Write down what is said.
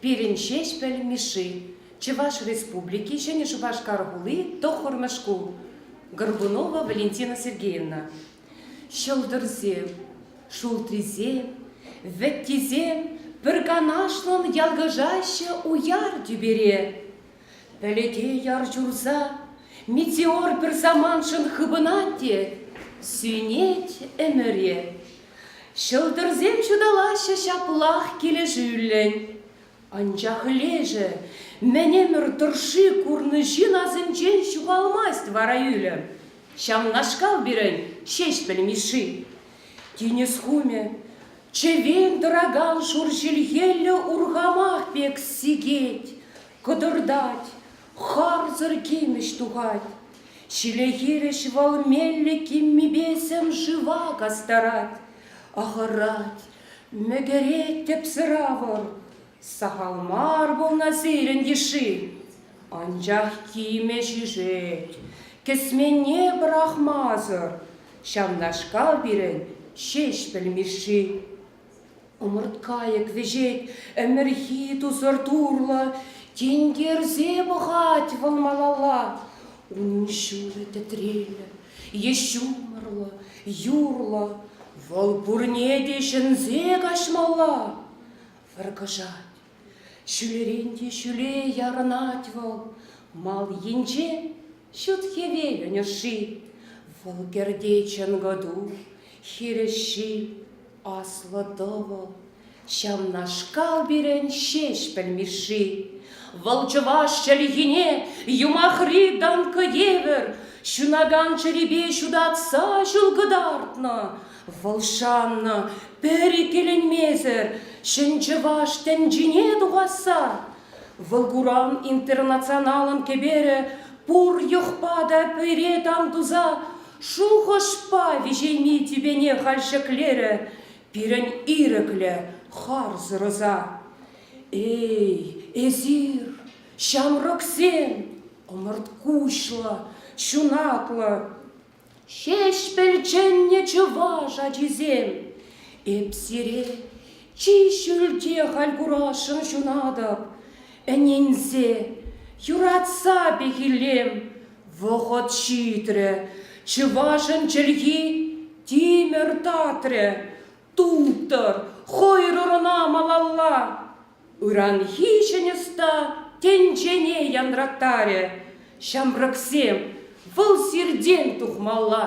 Пирӗн Ҫеҫпӗл Мишши, Чӑваш Республики, Ҫӗнӗ Шупашкар хули, тӑххӑрмӗш шкул, Горбунова Валентина Сергеевна. Ҫӑлтӑрсем, шултрисем, вӗттисем пӗр канашлӑн ялкӑшаҫҫӗ уяр тӳпере. Пӗлӗте яр ҫурса, метеор пӗр самантшӑн хыпӑнать те сӳнет ӗмӗре. Ҫӑлтӑрсем ҫуталаҫҫӗ ҫаплах килӗшӳллӗн. Анчах лешӗ мӗн ӗмӗр тӑршши курнӑ ҫын асӗнчен ҫухалмасть вара ӳлӗм. Ҫавнашкал пирӗн Ҫеҫпӗл Мишши. Тинӗс хумӗ чӗвен тӑракан шур ҫилхеллӗ урхамах пек сикет, кӑтӑртать, Харсӑр кимӗҫ тухать, ҫиле хирӗҫ вӑл меллӗ киммипе сӗм-шыва кастарать. Ахӑрать, мӗкӗрет тӗпсӗр авӑр, сахал мар пулнӑ сирӗн йышши. Анчах кимӗ ҫишет, кӗсменне пӑрахмасӑр, ҫавнашкал пирӗн Ҫеҫпӗл Мишши. Ӑмӑрткайӑк вӗҫет, ӗмӗрхи тусӑр турлӑ, Тинкерсе пӑхать вӑл малалла. Унӑн ҫулӗ тӗтреллӗ, е ҫумӑрлӑ, юрлӑ, Вӑл пурне те ҫӗнсе каҫмалла. Вӑркӑшать, ҫӳлерен те ҫӳле ярӑнать вӑл, Мал енчен Ҫут хӗвелӗн ӑшши, Вӑл кӗрте чӑнкӑ ту, хирӗҫҫи, Аслӑ тӑвӑл. Ҫавнашкал пирӗн Ҫеҫпӗл Мишши. Вӑл чӑваш чӗлхине юмахри данка евӗр ҫунакан чӗрипе ҫутатса ҫул кӑтартнӑ. Вӑл шаннӑ пӗр иккӗленмесӗр ҫӗн чӑваш тӗнчине тухасса Вӑл куран интернационалӑн кӗперӗ пур йӑхпа та пӗре тан туса шухӑшпа виҫейми тӳпене халь ҫӗклерӗ пирӗн ирӗклӗ харсӑр ӑса. Эй, эсир, ҫамрӑксем, ӑмӑрт куҫлӑ, ҫунатлӑ, Ҫеҫпӗл чӗннӗ чӑваш ачисем, Эп сире чи ҫӳлте халь курасшӑн ҫунатӑп, Ӗненсе, юратса пехиллем, Вӑхӑт ҫитрӗ, чӑвашӑн чӗлхи тимӗр татрӗ, Тултӑр, хӑйрӑр ӑна малалла! Ыранхи ҫӗн ӑста тӗнчене янраттарӗ. Ҫамрӑксем, вӑл сиртен тухмалла.